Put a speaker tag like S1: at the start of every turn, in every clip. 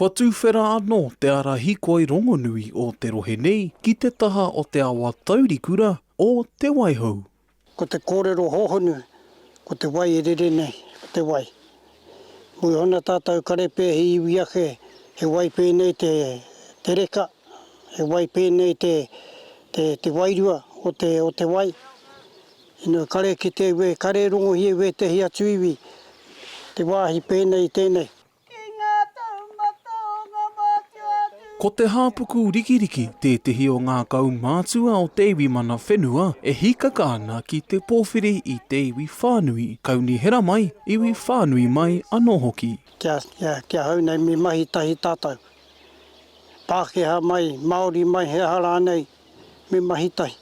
S1: Kua tūwhera anō te ara hikoi rongonui o te rohe nei ki te taha o te awa taurikura o Te Waihou. Ko te kōrero hōhonu, ko te wai e rere nei, ko te wai. Mō ōna tātou karepe he iwi ake, he wai pēnei te te reka, he wai pēnei te te te wairua o te o te wai. Ina kare kite iwe, kare rongohi e wētehi atu iwi, te wāhi pēnei i tēnei. Ki ngā taumata o ngā mātua atu. Ko Te Hāpuku Rikiriki tētehi o ngā kaumātua o te iwi mana whenua e hīkaka ana ki te pōwhiri i te iwi whānui, kaunihera mai, iwi whānui mai anō hoki. Kia, kia, kia hau nei me mahi tahi tātou. Pākehā mai, Māori mai, he aha rānei, me mahi tahi.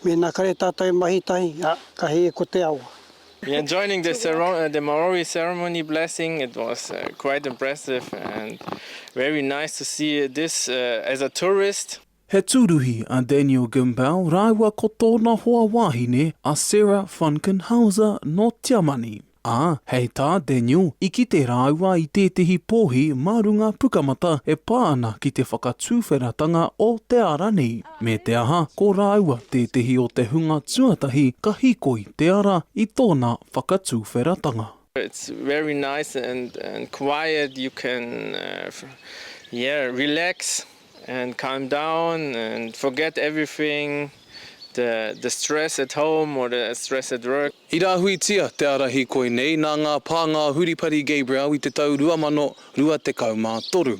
S1: Mena kare tatou e mahi tahi, a, ka hee ko te awa. We are joining the ceremony, the Morowi ceremony blessing. It was quite impressive and very nice to see this as a tourist. He tūruhi a Daniel Gimbel rāua ko tōna hoa wāhine a Sarah Funkenhauser nō Tiamani. Ā, hei tā Daniel, i kite rāua i tētehi pōhi mā runga pukamata e pā ana ki te whakatūwheratanga o te ara nei, me te aha, ko rāua tētehi o te hunga tuatahi ka hīkoi te ara i tōna whakatūwheratanga. It's very nice and and quiet you can yeah relax. and calm down and forget everything the the stress at home or the stress at work. I rāhuitia te ārahi koinei nā ngā pānga o Huripari Gabriel i te tau 2023,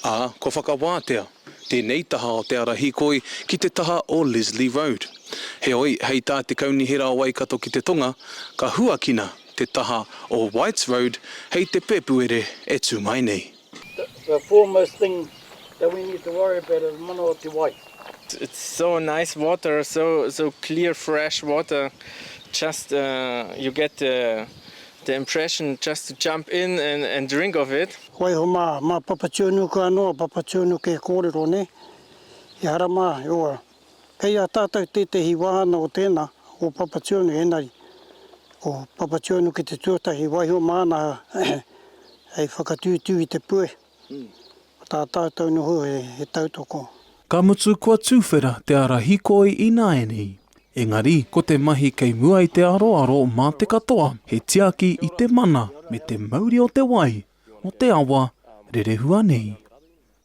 S1: ā, kua whakawātea tēnei taha o te ara hīkoi ki te taha o Leslie Road. Heoi, hei tā te Kaunihera o Waikato ki te Tonga, ka huakina te taha o Whites Road hei te Pēpuere e tū mai nei. The foremost thing that we need to worry about is mana o te wai. It's so nice water, so so clear fresh water, just uh, you get the the impression just to jump in and and drink of it. Waiho mā, mā Papatūānuku anō a Papatūānuku e kōrero, nē? Ehara mā, e ora. Kei a tātou tētehi wāhana o tēnā, o Papatūānu, engari ko Papatūānu ki te tuatahi i waiho māna hei whakatūtū i te puehe, ko tā tātou noho he tautoko. Ka mutu kua tuwhera te ara hikoi ināianei, engari ko te mahi kei mua i te aroaro mā te katoa he tiaki i te mana me te mauri o te wai, o te awa, rerehua nei.